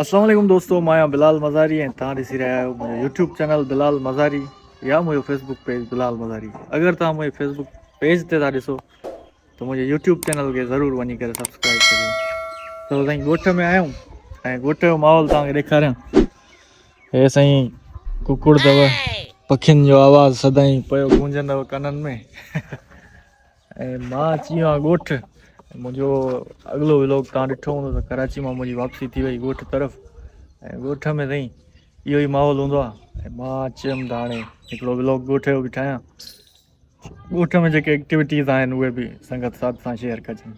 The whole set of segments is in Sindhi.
السلام عليڪم دوستو مان آهيان بلال مزاري ۽ توهان ڏسي رهيا آهيو منهنجو يوٽيوب چينل بلال مزاري يا منهنجو فيسبوڪ پيج بلال مزاري اگر توهان منهنجي فيسبوڪ پيج تي ٿا ڏسو ته منهنجي يوٽيوب چينل کي ضرور وڃي ڪري سبسڪرائب ڪريو ته سائين ڳوٺ ۾ آيا آهيون ۽ ڳوٺ جو ماحول توهان کي ڏيکاريان هي سائين ڪڪڙ اٿو پکين جو آواز سدائين پيو گونجندو ڪنن ۾ ۽ مان اچي ويو آهيان ڳوٺ منهنجو اڳلو ولوگ تان ڏٺو هوندو ته ڪراچي مان منهنجي واپسي ٿي وئي ڳوٺ طرف ۽ ڳوٺ ۾ رئي اهو ئي ماحول هوندو آ ۽ مان اچي ويم ته هاڻي هڪڙو ولوگ ڳوٺ جو به ٺاهيان ڳوٺ ۾ جيڪي ايڪٽيوٽيز آهن اهي به سنگت ساٿ سان شيئر ڪجن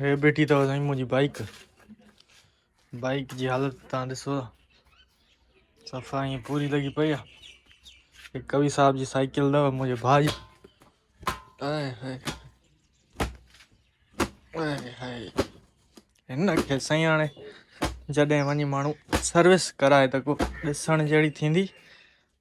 هي بيٺي اٿو سائين منهنجي بائيڪ بائيڪ جي حالت تان ڏسو صفا ائين پوري لڳي پئي آهي هي ڪوي صاحب جي سائيڪل اٿو منهنجي ڀاء جي هن کي سائين هاڻي جڏهن وڃي ماڻهو سروس ڪرائي ته ڏسڻ جهڙي ٿيندي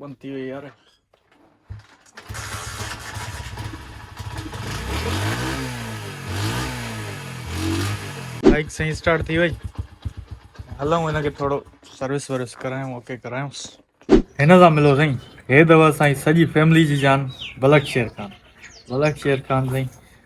بند ٿي وئي يار بائيڪ سائين اسٽارٽ ٿي وئي هلون هن کي ٿورو سروس ورس ڪرايون اوڪي ڪرايونس هن سان ملو سائين هي دوا سائين سڄي فيملي جي جان بلڪ شير خان بلڪ شير خان سائين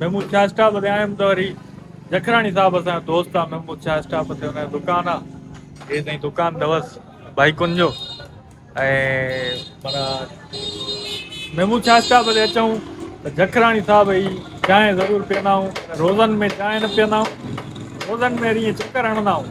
محمود شاهه اسٽاپ تي آيم ته وري جکراڻي صاحب اسان دوست آ محمود شاهه اسٽاپ تي ان دڪان آ هي تائين دڪان دوس بائيڪن جو ۽ پر محمود شاهه اسٽاپ تي اچون ته جکراڻي صاحب هي چانهه ضرور پيئندا آهيون روزن ۾ چانهه نه پيئندا آهيون روزن ۾ وري چڪر هڻندا آهيون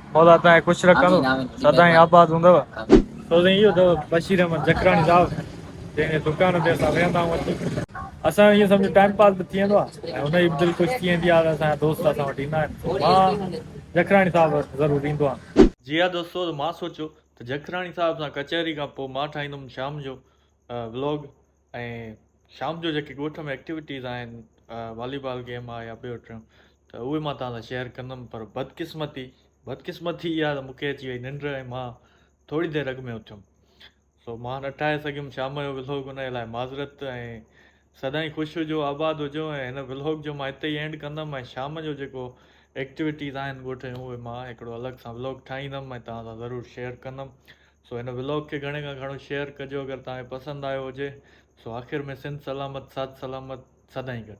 مولا تنهنجي خوش رکندو سدائين آباد هوندو. سوين اهو اٿو بشير احمد جکراڻي صاحب جنهن جي دڪان تي اسان ويهندا آهيون اچي. اسان جو ائين سمجهه ٽائيم پاس به ٿي ويندو آ ۽ هن جي به دل خوش ٿي ويندي آ ته اسان جا دوست اسان وٽ ايندا آهن پوء مان جکراڻي صاحب وٽ ضرور ايندو آ. جي ها دوستو ته مان سوچيو ته جکراڻي صاحب سان ڪچهري کان پوء مان ٺاهيندم شام جو ولاگ. ۽ شام جو جيڪي ڳوٺ ۾ ايڪٽيوٽيز آهن والي بال گيم آهي يا ٻيو ٽيون ته اهي مان توهان سان شيئر ڪندم پر بدقسمتي بدقسمتي اها ته مونکي اچي وئي ننڊ ۽ مان ٿوري دير اڳ ۾ اٿيم سو مان نه ٺاهي سگهيم شام جو ولوگ ان لاء معذرت ۽ سدائين خوش هجو آباد هجو ۽ هن بلاگ جو مان هتي ئي اينڊ ڪندم ۽ شام جو جيڪو ايڪٽيوٽيز آهن ڳوٺ جون اهي مان هڪڙو الڳ سان بلاگ ٺاهيندم ۽ توهان سان ضرور شيئر ڪندم سو هن ولاگ کي گهڻي کان گهڻو شيئر ڪجو اگر توهان کي پسند آيو هجي سو آخر ۾ سنڌ سلامت ساٿ سلامت سدائين گڏ.